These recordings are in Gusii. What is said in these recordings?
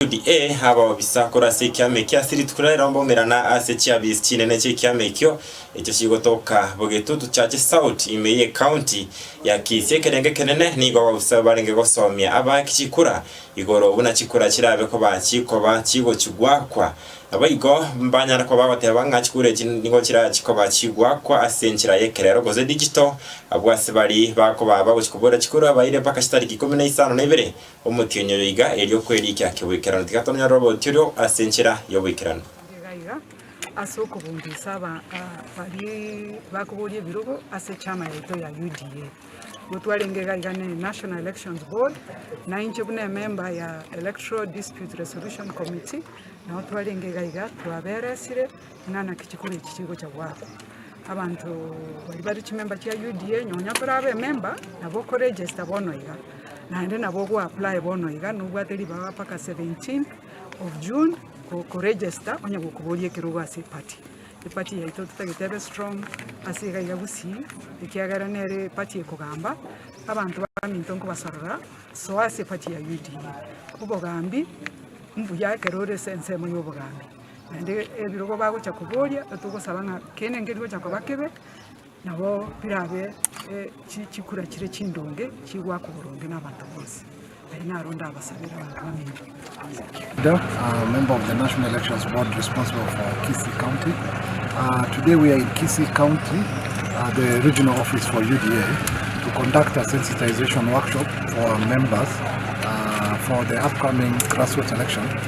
Daudi, Ee, abao bisa korwa ase ekiama eke ase rituko riria rirombe omera na ase chiabies chinene chi'ekiama ekio, echo chigotoka bw'egetutu chiache south ime y'ecounty ya Kisii. Ekerengo ekenene nigo abao bisa barenge gosomia abaaki chikura igoro buna chikura chirabe koba chikoba chigochigwakwa. Naboigo mbanyare koba bagoteba ng'a chikura echi nigo chirabe chikoba chigwakwa ase enchera y'ekerero gose digital, abwo ase baria bakoba bagochi koboria chikura baire mpaka chitariki ikomi na isano na ibere. Omotienyi oyo iga erio kwerikia kegoikerano, tiga tonyore oboruoti oria ase enchera y'oboikeranu. Iga iga, ase okobungusa aba baria bakoboria ebirogo ase echaama yaito ya UDA, nigo twarenge iga iga ne National Elections Board, na inche buna ememba ya Electoral Dispute Resolution Committee, nao twarenge iga iga twaberesire, Ng'ana ki chikoro echi chigocha goakwa? Abanto baria bare chimemba chia UDA nonya tore abememba nabo okoregesta bono iga, naende nabo ogoapply bono iga nobwate ribaga mpaka 17 of June gokoregesta onye gokoboria ekerogo ase eparty. Eparty yaito totagete ebe strong ase iga iga gusii ekiagera nere eparty ekogamba abanto baminto nkobasorora soa ase eparty ya UDA. Obogambi mbuya ekero ore ase ensemo ya obogambi. Naende ebirogo bagochia koboria, togosaba ng'a kende nkeri gochia koba kebe, nabo birabe chikura chire chindonge chigoaka oboronge na abanto bonsi. Ayio naro ndabasabere abanto bamenywe. Nda, uh, member of the National Elections Board responsible for Kisii County. Uh, today we are in Kisii County, uh, the regional office for UDA, to conduct a sensitization workshop for our members uh, for the upcoming grassroots election.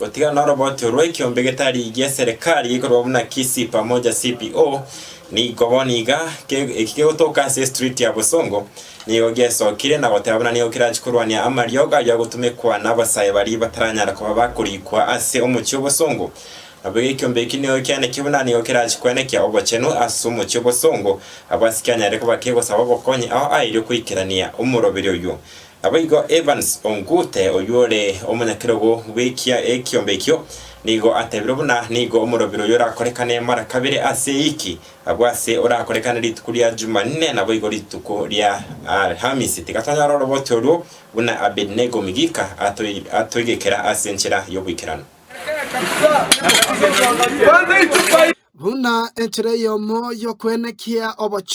Gotigana norobotio rwekiombe getari gi'eserekari gekorwa buna KISI Pamoja CPO, nigo bono iga, ke, eki kegotoka ase estriti ya bosongo, nigo giesokire na goteba buna nigo kerachi korwania amariogo ayio agotumekwa nabasae baria bataranyara koba bakorikwa ase omochie obosongo. Naboigo ekiombe eki nigo kianeke buna nigo kerachi kwenekia obochenu ase omochie obosongo, abasike anyare koba kegosaba obokonyi ao airio koikerania omoroberi oyio. Naboigo Evans Ongute, oyio ore omonyakerogo bw'ekia ekiombe ekio, nigo atebire buna nigo omorobiri oyio orakorekane mara kabere ase ewiki, agwo ase orakorekane rituko ria Jumanne naboigo rituko ria Alhamisi. Tiga tonyore oroboti oruo buna Abednego Migika atoigekera ase enchera y'oboikeranu. Buna enchera eyomo y'okwenekia obochenu.